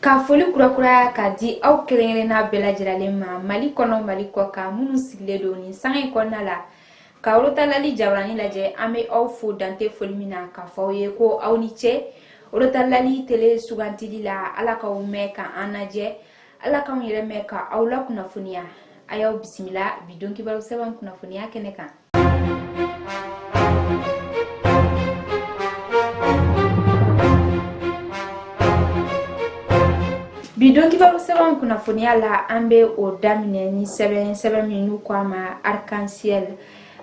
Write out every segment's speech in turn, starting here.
Ka foli kurakuraya ka di aw kelenkelenna bɛɛ lajɛlen ma mali kɔnɔ mali kɔkan minnu sigilen don nin sanga in kɔnɔna la ka orotalali jabaranin lajɛ an bɛ aw fo dante foli min na ka fɔ aw ye ko aw ni ce orotalali tele sugantili la ala k'aw mɛn ka an lajɛ Ala k'anw yɛrɛ mɛn ka aw la kunnafoniya a y'aw bisimila bi don kibaru sɛbɛn kunnafoniya kɛnɛ kan bi don kibaru sɛbɛn kunnafoniya la an bɛ o daminɛ ni sɛbɛn sɛbɛn min n'u ko a ma arc-en-ciel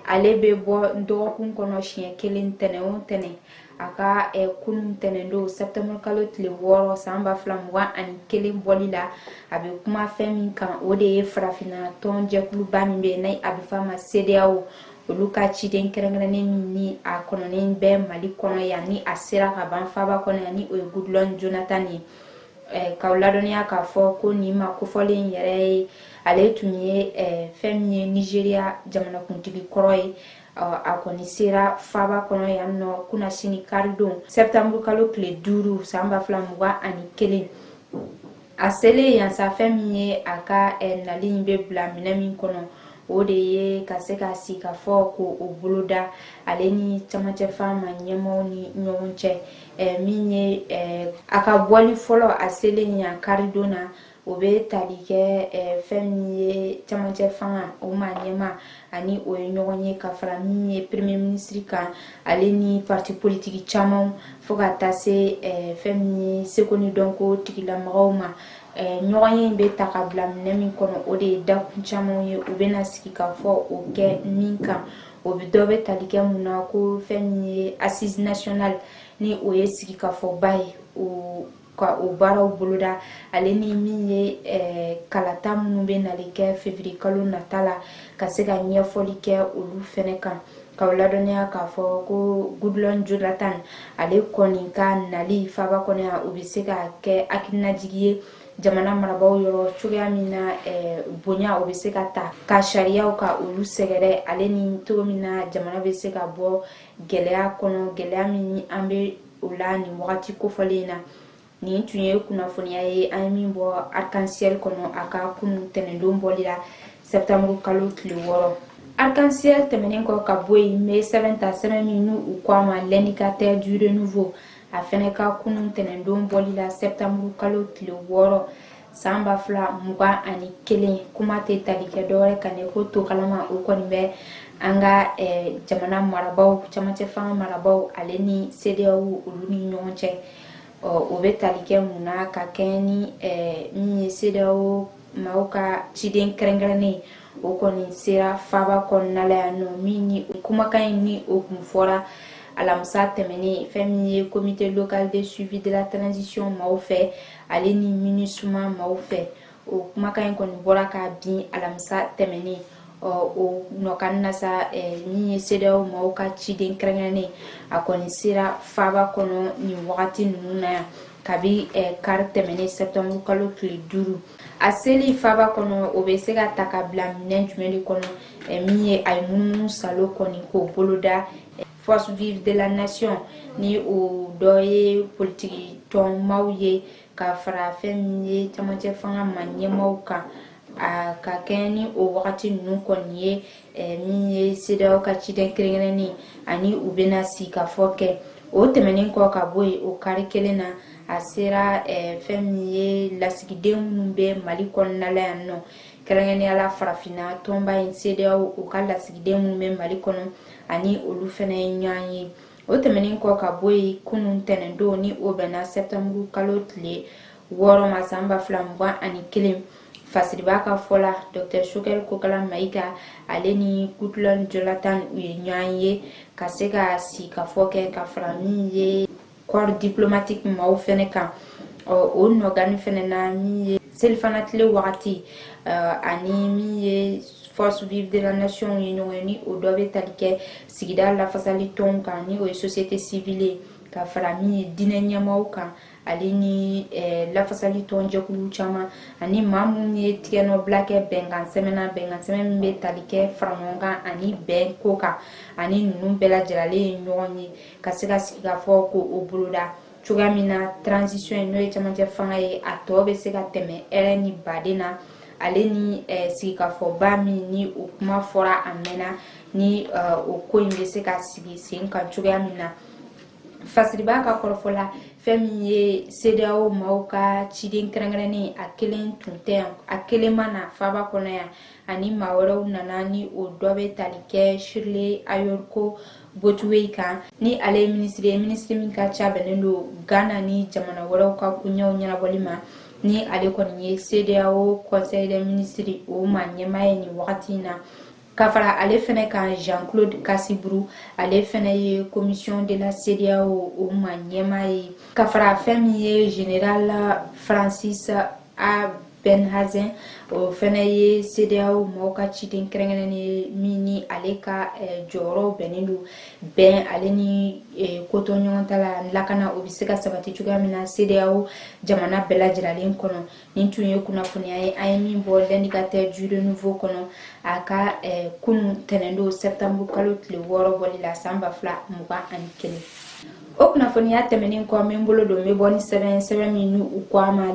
ale bɛ bɔ dɔgɔkun kɔnɔ siɲɛ kelen tɛnɛn o tɛnɛn a ka eh, kunun tɛnɛndon septembre kalo tile wɔɔrɔ san ba fila mugan ani kelen bɔli la a bɛ kuma fɛn min kan o de ye farafinna tɔn jɛkuluba min bɛ n'a bɛ fɔ a ma CEDEAO olu ka ciden kɛrɛnkɛrɛnnen min ni a kɔnɔnen bɛ mali kɔnɔ yan ni a sera ka ban faba kɔnɔ yan ni o ye goodluck jonathan ye eh, k'aw ladɔnniya k'a fɔ ko nin maa kofɔlen yɛrɛ ye ale tun ye eh, fɛn min ye nigeria jamanakuntigi kɔrɔ ye a kɔni sera faba kɔnɔ yan nɔ kunasini karidon septembre kalo tile duuru san ba fila mugan ani kelen a selen yan sa fɛn min ye a ka eh, nali in bɛ bila minɛ min kɔnɔ o de ye ka se ka sigikafɔ ko o boloda ale ni camancɛ fanga ɲɛmɔgɔw ni ɲɔgɔn cɛ eh, min ye eh, a ka bɔli fɔlɔ a selen yan karidon na o bɛ tali kɛ fɛn min ye camancɛ fanga o ɲɛmaa ani o ye ɲɔgɔn ye ka fara min ye premier minisiri kan ale ni parti politiki caman fo ka taa se fɛn min ye seko ni dɔnko tigilamɔgɔw ma ɲɔgɔnye bɛ ta ka bila minɛ min kɔnɔ o de ye dakun caman ye u bɛna sigikafɔ o kɛ min kan o bɛ dɔ bɛ tali kɛ mun na ko fɛn min ye assise nationale ni o ye sigikafɔba ye o ka o baaraw boloda ale ni min ye eh, kalata minnu bɛ nali kɛ février kalo nata la ka se ka ɲɛfɔli kɛ olu fɛnɛ kan k'aw ladɔnniya k'a fɔ ko goodluck jonathan ale kɔni ka nali faba kɔnɔ yan o bɛ se ka kɛ hakilinajigi ye jamana marabaaw yɔrɔ cogoya min na eh, bonya o bɛ se ka ta ka sariyaw ka olu sɛgɛrɛ ale ni cogo min na jamana bɛ se ka bɔ gɛlɛya kɔnɔ gɛlɛya min an bɛ o la nin wagati kofɔlen in na nin tun ye kunnafoniya ye an ye min bɔ arc-en-ciel kɔnɔ a ka kunun tɛnɛndon bɔli la septembre kalo tile wɔɔrɔ arc-en-ciel tɛmɛnen kɔ ka bɔ yen an bɛ sɛbɛn ta sɛbɛn min n'u ko a ma l'indicateur du renouveau a fɛnɛ ka kunun tɛnɛndon bɔli la septembre kalo tile wɔɔrɔ san ba fila mugan ani kelen kuma tɛ tali kɛ dɔwɛrɛ kan ne ko to kalama o kɔni bɛ an ka eh, jamana marabaw camancɛ fanga marabaw ale ni CEDEAO olu ni ɲɔgɔn cɛ ɔ o bɛ tali kɛ mun na ka kɛɲɛ ni eh, min ye CEDEAO maaw ka ciden kɛrɛnkɛrɛnnen o kɔni sera faaba kɔnɔna la yan nɔ min ni kumakan in ni o kun fɔra alamisa tɛmɛnen fɛn min ye comité local de suivi de la transition maaw fɛ ale ni MINUSMA maaw fɛ o kumakan in kɔni bɔra kabini alamisa tɛmɛnen o nɔkan na sa min ye CEDEAO maaw ka ciden kɛrɛnkɛrɛnnen a kɔni sera faaba kɔnɔ nin wagati ninnu na yan kabi kari tɛmɛnen sɛptanburu kalo tile duuru a seli faaba kɔnɔ o bɛ se ka ta ka bila minɛn jumɛn de kɔnɔ min ye a ye munumunu salo kɔni k'o boloda Force vive de la nation ni o dɔ ye politiki tɔn maaw ye ka fara fɛn min ye camancɛ fanga ma ɲɛmaaw kan a ka kɛɲɛ ni o wagati ninnu kɔni ye eh, min ye CEDEAO ka ciden kɛrɛnkɛrɛnnen ani u bɛna sigikafɔ kɛ o tɛmɛnen kɔ ka bɔ yen o kari kelen na a sera eh, fɛn min ye lasigiden minnu bɛ mali kɔnɔna la yan nɔ kɛrɛnkɛrɛnnenya la farafinna tɔnba in CEDEAO u ka lasigiden minnu bɛ mali kɔnɔ ani olu fɛnɛ ye ɲɔgɔn ye o tɛmɛnen kɔ ka bɔ yen kunun tɛnɛndon ni o bɛnna sɛptanburu kalo tile wɔɔrɔ ma san ba fila mugan ani kelen fasiriba ka fɔ la dɔktɛr Choguel Kokalla Maïga ale ni Goodluck Jonathan u ye ɲɔgɔn ye ka se ka sigikafɔ kɛ ka fara min ye corps diplomatique maaw fɛnɛ kan o nɔkan fɛnɛ na min ye selifana tile wagati ani min ye force vive de la nation ye ɲɔgɔn ye ni o dɔ bɛ tali kɛ sigida lafasali tɔnw kan ni o ye société civile ye ka fara min ye diinɛ ɲɛmaaw kan ale ni eh, lafasali tɔn jɛkulu caman ani maa minnu ye tigɛnɔbila kɛ bɛnkan sɛbɛn na bɛnkan sɛbɛn min bɛ tali kɛ faraɲɔgɔnkan ani bɛn ko kan ani ninnu bɛɛ lajɛrɛlen ye ɲɔgɔn ye ka se ka sigi ka fɔ ko o boloda cogoya min na transition ye n'o ye camancɛ fanga ye a tɔ bɛ se ka tɛmɛ hɛrɛ ni baden na ale ni eh, sigikafɔba min ni o kuma fɔra a mɛnna ni eh, o ko in bɛ se ka sigi sen kan cogoya min na fasiriba ka kɔrɔfɔ la fɛn min ye CEDEAO maaw ka ciden kɛrɛnkɛrɛnnen a kelen tun tɛ yan a kelen ma na faaba kɔnɔ yan ani maa wɛrɛw nana ni o dɔ bɛ tali kɛ shirley ayorkor botchwey kan ni ale ye minisiri ye minisiri min ka ca bɛnnen don ghana ni jamana wɛrɛw ka koɲɛw ɲɛnabɔli ma ni ale kɔni ye cedeao conseil des ministres o ma ɲɛmaa ye nin wagati in na ka fara ale fɛnɛ kan jean claude kassi brou ale fɛnɛ ye commission de la cedeao o ma ɲɛmaa ye ka fara fɛn min ye général francis a Behanzin o fɛnɛ ye CEDEAO mɔgɔw ka ciden kɛrɛnkɛrɛnnen ye min ni ale ka eh, jɔyɔrɔ bɛnnen don bɛn ale ni eh, kotoɲɔgɔntala lakana o bɛ se ka sabati cogoya min na CEDEAO jamana bɛɛ lajɛrɛlen kɔnɔ nin tun ye kunnafoniya ye an ye min bɔ l'indicateur du renouveau kɔnɔ a ka eh, kunun tɛnɛndon septembre kalo tile wɔɔrɔ bɔli la san ba fila mugan ani kelen o kunnafoniya tɛmɛnen kɔ n bɛ n bolo don n bɛ bɔ ni sɛbɛn sɛbɛn min ni u ko a ma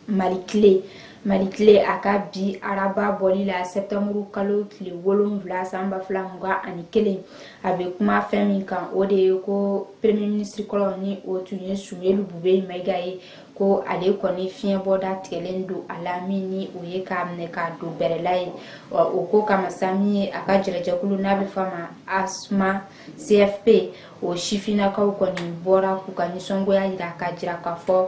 mali tile mali tile a ka bi araba bɔli la septembre kalo tile wolonwula san ba fila mugan ani kelen a bɛ kuma fɛn min kan o de ye ko premier ministre kɔrɔ ni o tun ye sumeyilu bubɛyi mayiga ye ko ale kɔni fiɲɛbɔda tigɛlen don a la min ni o ye k'a minɛ k'a don bɛrɛla ye o ko kama sa min ye a ka jɛrɛjɛkulu n'a bɛ f'a ma asma cfp o sifinnakaw kɔni bɔra k'u ka nisɔngoya jira k'a jira k'a fɔ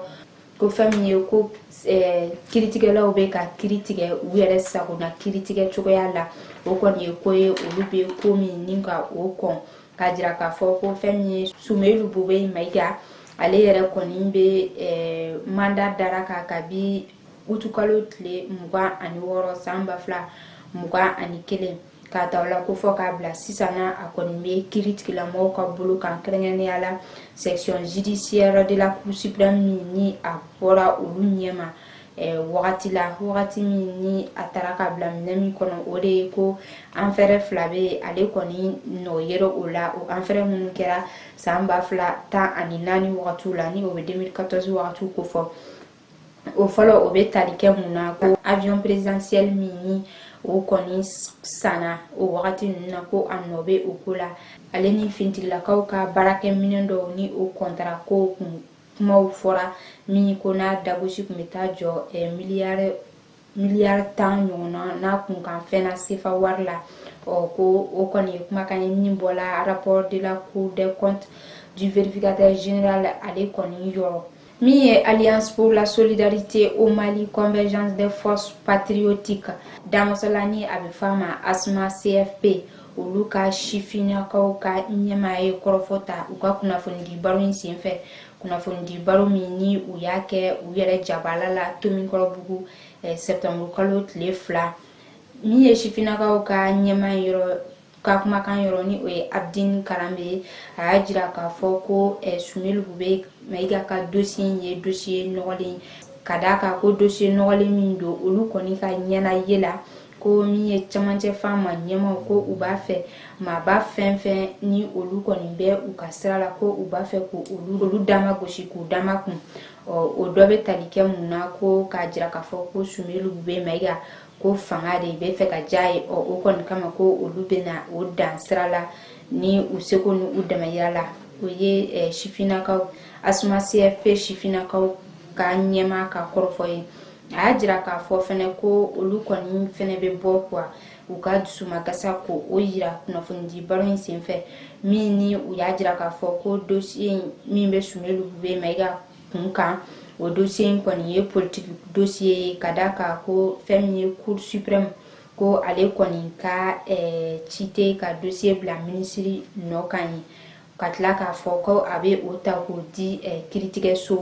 ko fɛn min ye ko eh, kiritigɛlaw bɛ ka kiri tigɛ u yɛrɛ sago na kiritigɛ cogoya la o kɔni ye ko ye olu bɛ ko min ni ka o kɔn k'a jira k'a fɔ ko fɛn min ye sumeyilu bubɛyi mayiga ale yɛrɛ kɔni bɛ eh, mandat d'arrêt kan kabi utukalo tile mugan ani wɔɔrɔ san ba fila mugan ani kelen k'a ta o la ko fɔ k'a bila sisan a kɔni bɛ kiritigɛlamɔgɔw ka bolo kan kɛrɛnkɛrɛnnenya la section judiciaire de la cour suprême min ni a bɔra olu ɲɛma eh, wagati la wagati min ni a taara ka bila minɛ min kɔnɔ o de ye ko affaire fila bɛ ale kɔni nɔ yɛrɛ o la o affaire minnu kɛra san ba fila tan ani naani wagatiw la ni o bɛ 2014 wagatiw kofɔ o fɔlɔ o bɛ tali kɛ mun na ko avion présidentiel min ni o kɔni sanna o wagati ninnu na ko a nɔ bɛ o ko la ale ni finitigilakaw ka baarakɛminɛn dɔw ni o kɔntara ko kun kumaw fɔra min ko n'a dagosi tun bɛ taa jɔ eh, miliyari miliyari tan ɲɔgɔnna n'a kun kan fɛn na sefa wari la ɔ ko o kɔni ye kumakan ye min bɔla rapport de la cour des comptes du vérificateur général ale kɔni yɔrɔ min ye alliance pour la solidarité au mali convergence des forces patriotiques damasɔlani a bɛ f'a ma asma cfp olu ka sifinnakaw ka ɲɛmaa ye kɔrɔfɔ ta u ka kunnafonidi baro in senfɛ kunnafonidi baro min ni u y'a kɛ u yɛrɛ jabala la tomikɔrɔbugu eh, sɛptanburu kalo tile fila min ye sifinnakaw ka ɲɛmaa yɔrɔ ka kumakan yɔrɔ ni o ye abdin karanbe a y'a jira k'a fɔ ko eh, sumelu bubɛ mayiga ka dosiye ye dosiye nɔgɔlen ka d'a kan ko dosiye nɔgɔlen min don olu kɔni ka ɲɛna ye la ko min ye camancɛ fanga ɲɛmaaw ko u b'a fɛ maaba fɛn fɛn ni olu kɔni bɛ u ka sira la ko u b'a fɛ ko olu olu dama gosi k'u da makun ɔ o dɔ bɛ tali kɛ mun na ko k'a jira k'a fɔ ko sumelu bubɛ mayiga ko fanga de bɛ fɛ ka diya ye ɔ o kɔni kama ko olu bɛna o dan sira la ni u seko ni u damayira la o ye eh, sifinnakaw asma cfp sifinnakaw ka ɲɛmaa ka kɔrɔfɔ ye a y'a jira k'a fɔ fɛnɛ ko olu kɔni fɛnɛ bɛ bɔ kuwa u ka dusumakasa k'o yira kunnafonidi baro in senfɛ min ni u y'a jira k'a fɔ ko dosiye min bɛ sumelu bubɛ mayiga kun kan o dosiye in kɔni ye politiki dosiye ye ka d'a kan ko fɛn min ye cour supreme ko ale kɔni ka ɛɛ eh, ci tɛ ka dosiye bila minisiri nɔ kan ye ka tila k'a fɔ ko a bɛ o ta k'o di kiiritigɛso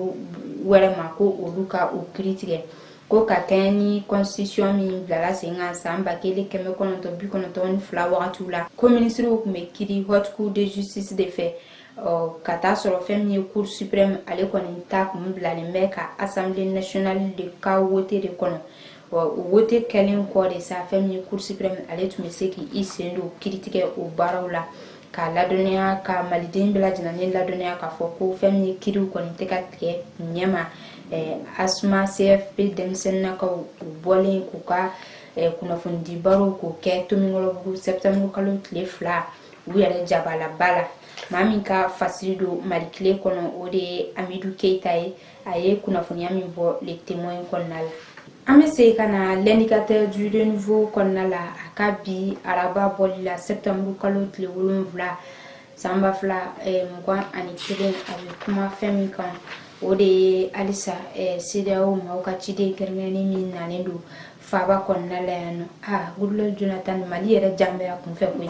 wɛrɛ ma ko olu ka o kiiri tigɛ ko ka kɛɲɛ ni constitution min bilala sen kan san ba kelen kɛmɛ kɔnɔntɔn bi kɔnɔntɔn ni fila wagatiw la ko minisiriw tun bɛ kiiri haute cour de justice de fɛ ka taa sɔrɔ fɛn min ye cour supreme ale kɔni ta kun bilalen bɛ ka assemblée nationale de ka wote de kɔnɔ wa o wote kɛlen kɔ de sa fɛn min ye cour supreme ale tun bɛ se k'i sen don kiiritigɛ o baaraw la k'a ladɔnniya ka maliden bɛɛ lajɛlen ladɔnniya k'a fɔ ko fɛn min ye kiiriw kɔni tɛ ka tigɛ ɲɛma eh, asma cfp denmisɛnninakaw u bɔlen k'u ka eh, kunnafonidibarow k'o kɛ tomikɔrɔbugu sɛptanburu kalo tile fila u yɛrɛ jabalaba la maa min ka fasiri don malikile kɔnɔ o de ye amidu keita ye a ye kunnafoniya min bɔ le témoin kɔnɔna la an bɛ segin ka na l'indicateur du renouveau kɔnɔna la a ka bi araba bɔli la septembre kalo tile wolonfila san ba fila eh, mugan ani kelen a bɛ kuma fɛn min kan o de ye halisa eh, CEDEAO maaw ka ciden kɛrɛnkɛrɛnnen min nalen don faaba kɔnɔna la yan n'o ye ah, goodluck jonathan mali yɛrɛ jan bɛ a kunfɛ koyi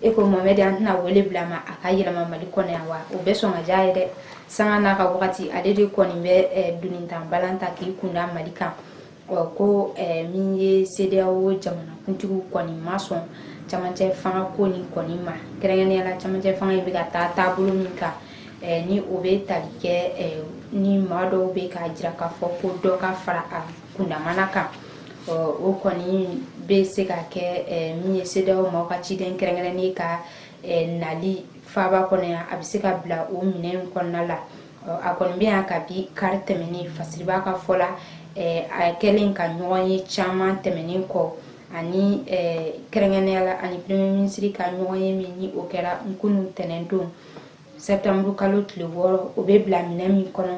e ko mohamed an tɛna wele bila ma a ka yɛlɛma mali kɔnɔ yan wa o bɛ sɔn ka diya a ye dɛ sanga n'a ka wagati ale de kɔni bɛ eh, dunintan balan ta k'i kunda mali kan ko eh, min ye CEDEAO jamanakuntigiw kɔni ma sɔn camancɛ fanga ko nin kɔni ma kɛrɛnkɛrɛnnenya la camancɛ fanga in bɛ ka taa taabolo min kan eh, ni o bɛ tali kɛ ni maa dɔw bɛ k'a jira k'a fɔ ko dɔ ka fara a kundamana kan o kɔni bɛ se ka kɛ min ye CEDEAO maaw ka ciden kɛrɛnkɛrɛnnen ka nali faaba kɔnɔ yan a bɛ se ka bila o minɛn kɔnɔna la a kɔni bɛ yan kabi kari tɛmɛnen fasiribaa ka fɔ la a kɛlen ka ɲɔgɔnye caman tɛmɛnen kɔ ani kɛrɛnkɛrɛnnenya la ani premier ministre ka ɲɔgɔnye min ni o kɛra kunun ntɛnɛndon sɛbtanburu kalo tile wɔɔrɔ o bɛ bila minɛn min kɔnɔ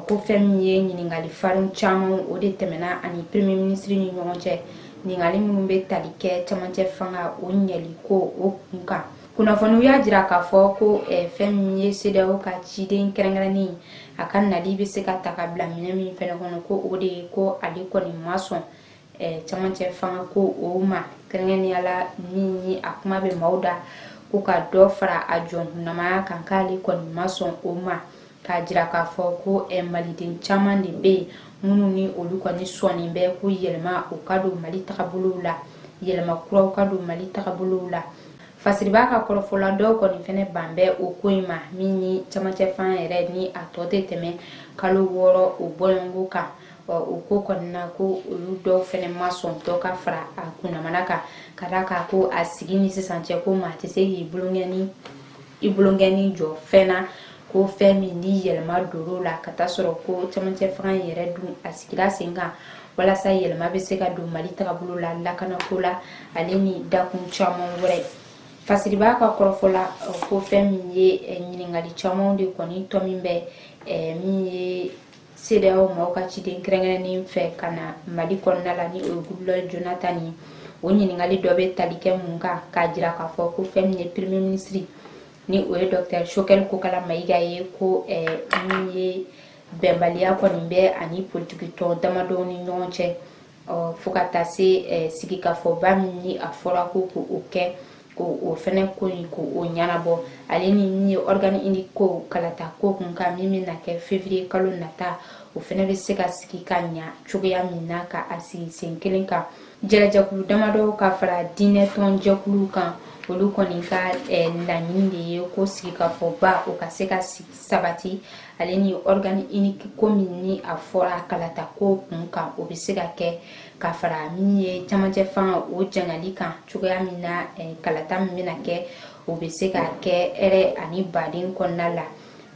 ko fɛn min ye ɲininkali farin caman o de tɛmɛna ani premier ministre ni ɲɔgɔn cɛ ɲininkali minnu bɛ tali kɛ camancɛ fanga o ɲɛli ko o kun kan kunnafoniw y'a jira k'a fɔ ko eh, fɛn min ye CEDEAO ka ciden kɛrɛnkɛrɛnnen a ka nali bɛ se ka ta ka bila minɛn min fɛnɛ kɔnɔ ko o de ye ko ale kɔni ma sɔn camancɛ fanga ko o ma kɛrɛnkɛrɛnnenya la min ni a kuma bɛ maaw da ko ka dɔ fara a jɔnkunamaya kan k'ale kɔni ma sɔn o ma k'a jira k'a fɔ ko maliden caman de bɛ yen minnu ni olu kɔni sɔnnen bɛ ko yɛlɛma o ka don mali tagabolow la yɛlɛma kuraw ka don mali tagabolow la fasiribaa ka kɔrɔfɔ la dɔw kɔni fɛnɛ ban bɛ o ko in ma min ni camancɛ fanga yɛrɛ ni a tɔ tɛ tɛmɛ kalo wɔɔrɔ o bɔɲɔgɔnko kan o ko kɔni na ko olu dɔw fɛnɛ ma sɔn dɔ ka fara a kundamana kan ka da a kan ko a sigi ni sisan cɛ ko maa tɛ se k'i bolonkɛni jɔ fɛn na ko fɛn min ni yɛlɛma donna o la ka taa sɔrɔ ko camancɛ fanga in yɛrɛ dun a sigira sen kan walasa yɛlɛma bɛ se ka don mali tagabolo la lakanako la ale ni dakun caman wɛrɛ fasiribaa ka kɔrɔfɔ la ko fɛn min ye ɲininkali caman de kɔni tɔ min bɛ min ye CEDEAO maaw ka ciden kɛrɛnkɛrɛnnen fɛ ka na Mali kɔnɔna la ni o ye Goodluck Jonathan ye o ɲininkali dɔ bɛ tali kɛ mun kan k'a jira k'a fɔ ko fɛn min ye premier ministre ni o ye docteur Choguel Kokala Mayiga ye ko eh, min ye bɛnbaliya kɔni bɛ ani politiki tɔn damadɔw ni ɲɔgɔn cɛ fo ka taa se sigikafɔba min ni a fɔra ko k'o kɛ o fɛnɛ ko in k'o ɲɛnabɔ ale ni min ye organe unique ko kalata ko kun kan min bɛna kɛ février kalo nata o fɛnɛ bɛ se ka sigi ka ɲa cogoya min na ka a sigi sen kelen kan jɛrɛjɛkulu damadɔw ka fara diinɛ tɔn jɛkulu kan olu kɔni ka laɲini de ye ko sigikafɔba o ka se ka sabati ale ni organe unique ko min ni a fɔra kalata ko kun kan o bɛ se ka kɛ ka fara min ye camancɛ fanga o janyali kan cogoya min na eh, kalata min bɛna kɛ o bɛ se ka kɛ hɛrɛ ani baden kɔnɔna la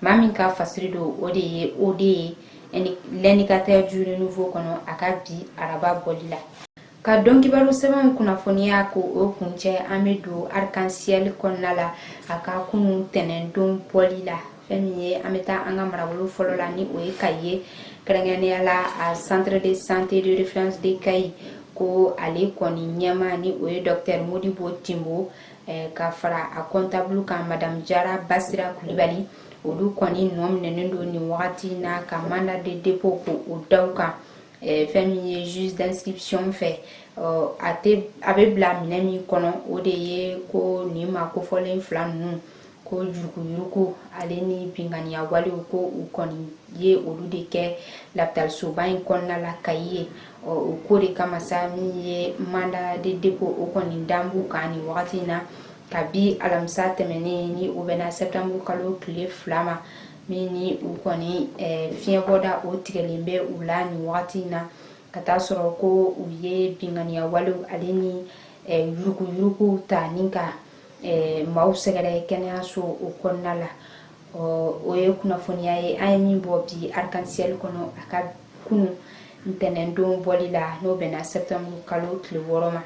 maa min ka fasiri don o de ye o de ye eh, l'Indicateur du Renouveau kɔnɔ a ka bi araba bɔli la ka don kibaru sɛbɛnw kunnafoniya ko o kuncɛ an bɛ don Arc-en-ciel kɔnɔna la a ka kunun tɛnɛndon bɔli la fɛn min ye an bɛ taa an ka marabolo fɔlɔ la ni o ye Kayi ye kɛrɛnkɛrɛnnenya la a centre de santé de référence de Kayi ko ale kɔni ɲɛmaa ni o ye docteur Modibo Timbo eh, ka fara a comptable kan madame Jara Basira Kulibali olu kɔni nɔ minɛnen don nin wagati na ka mandat de dépôt ko o da u kan Eh, fɛn min ye juge d'inscription fɛ a tɛ a bɛ bila minɛ min kɔnɔ o de ye ko nin maa kofɔlen fila ninnu ko yuruguyurugu ale ni binganiya walew ko u kɔni ye olu de kɛ lapitalisoba in kɔnɔna la kayi ye o ko de kama sa min ye mandat de dépôt o kɔni dan b'u kan nin wagati in na kabi alamisa tɛmɛnen ni o bɛnna sɛtanburu kalo tile fila ma min ni u kɔni fiɲɛbɔda o tigɛlen bɛ u la nin wagati in na ka taa sɔrɔ ko u ye binganiya walew ale ni yuruguyurugu ta ni ka maaw sɛgɛrɛ kɛnɛyaso o kɔnɔna la ɔ o ye kunnafoniya ye an ye min bɔ bi Arc-en-ciel kɔnɔ a ka kunun ntɛnɛndon bɔli la n'o bɛnna sɛtanburu kalo tile wɔɔrɔ ma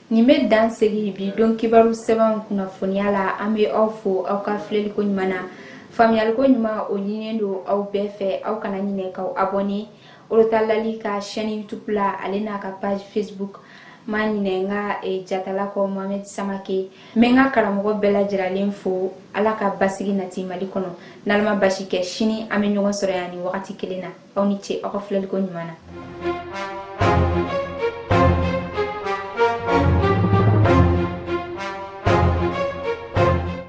nin bɛ dan sigi bi don kibaru sɛbɛnw kunnafoniya la an bɛ aw fo aw ka filɛliko ɲuman na faamuyaliko ɲuman o ɲininen don aw bɛɛ fɛ aw kana ɲinɛ k'aw abɔne orotalali ka chaîne youtube la ale n'a ka page facebook ma ɲinɛ n ka eh, jatala kɔ mohamed samake n bɛ n ka karamɔgɔ bɛɛ lajɛrɛlen fo ala ka basigi nati mali kɔnɔ n'ala ma baasi kɛ sini an bɛ ɲɔgɔn sɔrɔ yan nin wagati kelen na aw ni ce aw ka filɛliko ɲuman na